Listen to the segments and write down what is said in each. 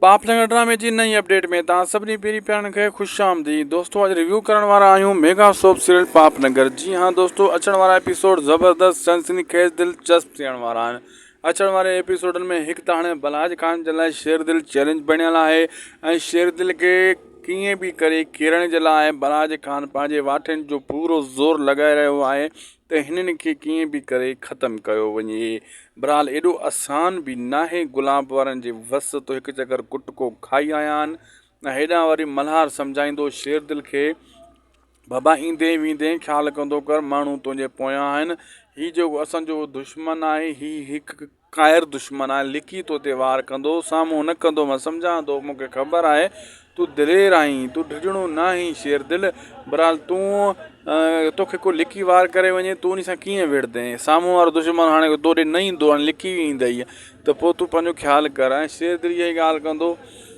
پاپ نگر ڊرامي جي نئين اپڊيٽ ۾ توهان سڀني پيري پيارن کي خوش آمديد دوستو اڄ ريويو ڪرڻ وارا آهيون mega soap serial Paap Nagar جي ها دوستو اچڻ وارا ايپيسوڊ زبردست سنسني خيز دلچسپ ٿيڻ وارا آهن اچڻ واري ايپيسوڊن ۾ هڪ ته هاڻي بلهاج خان جي لاء شير دل چيلنج بڻيل آهي ۽ شير دل کي ڪيئن به ڪري ڪيرڻ جي لاء بلهاج خان پنهنجي واٺين جو پورو زور لڳائي رهيو آهي ته هنن کي ڪيئن به ڪري ختم ڪيو وڃي. بھرحال ايڏو آسان به ناهي گلاب وارن جي وس تو هڪ چڪر ڪٽڪو کائي آيا آھن ۽ هيڏانهن وري ملهار سمجهائيندو شيردل کي بابا ايندين ويندين خيال ڪندو ڪر ماڻهو تنهنجي پويان آھن هي جيڪو اسان جو دشمن آھي هي هڪ قاهر دشمن آهي لڪي تو تي وار ڪندو سامهون نه ڪندو مان سمجهان ٿو مون کي خبر آهي تون دلير آهين تون ڊڄڻو نه آهين شير دل برحال تون تو کي ڪو لڪي وار ڪري وڃي تون ان سان ڪيئن وڙهندين سامهون وارو دشمن هاڻي تو ڏي نه ايندو هاڻي لڪي ئي ايندئي ته پوء تون پنهنجو خيال ڪر ۽ شير دل اها ئي ڳالهه ڪندو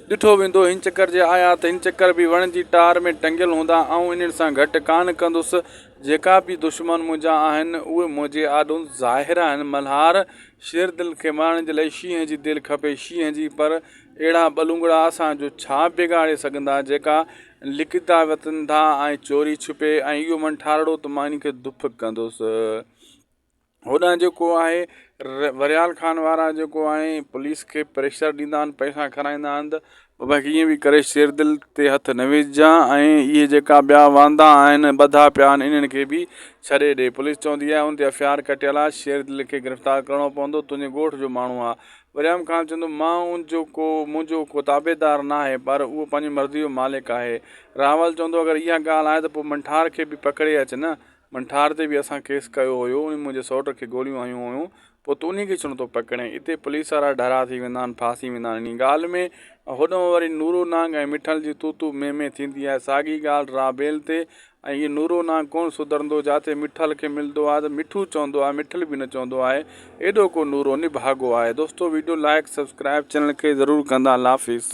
ڏٺو ويندو هن چڪر جي آيا ته هن چڪر به وڻ جي ٽار ۾ ٽنگيل هوندا آئون انهن سان گهٽ ڪانه ڪندس جيڪا به دشمن منهنجا آهن، اهي منهنجي آڏو ظاهر آهن. ملهار، شير دل کي مارڻ جي لاء شينهن جي دل کپي، شينهن جي! پر اهڙا ٻلونگڙا اسان جو ڇا بگاڙي سگهندا، جيڪا لڪيتا وتن ٿا ۽ چوري ڇپي ۽ اهو منٺارڙو ته مان انهن کي دڦ ڪندس. هوڏانهن جيڪو آهي وريال خان وارا جيڪو آهي پوليس کي پريشر ڏيندا آهن پئسا کارائيندا آهن ته بابا ڪيئن به ڪري شير دل تي هٿ نه وجهان ۽ اهي جيڪا ٻيا واندا آهن ٻڌا پيا آهن انهن کي به ڇڏي ڏي پوليس چوندي آهي ان تي ايف آء آر ڪٽيل آهي شير دل کي گرفتار ڪرڻو پوندو تنهنجي ڳوٺ جو ماڻهو آهي وريام خان چوندو مان ان جو ڪو منهنجو ڪو تابعدار نه آهي پر اهو پنهنجي مرضي جو مالڪ آهي راول چوندو اگر اها ڳالهه آهي ته پوء منٺار کي به پڪڙي اچ نه منٺار تي به اسان ڪيس ڪيو هيو انهن منهنجي سئوٽ کي گوليون هنيون هيون پوء تون انهي کي ڇونه ٿو پڪڙين اتي پوليس وارا ڍرا ٿي ويندا آهن ڦاسي ويندا آهن انهي ڳالهه ۾ هوڏانهن وري نورو نانگ ۽ مٺل جي تون تون مين مين ٿيندي آهي ساڳي ڳالهه را بيل تي ۽ هي نورو نانگ ڪونه سڌرندو جاٿي مٺل کي ملندو آهي ته مٺو چوندو آهي مٺل به نه چوندو آهي ايڏو ڪو نورو نڀاڳو آهي دوستو ويڊيو لائڪ سبسڪرائب چينل کي ضرور ڪندا الله حافظ.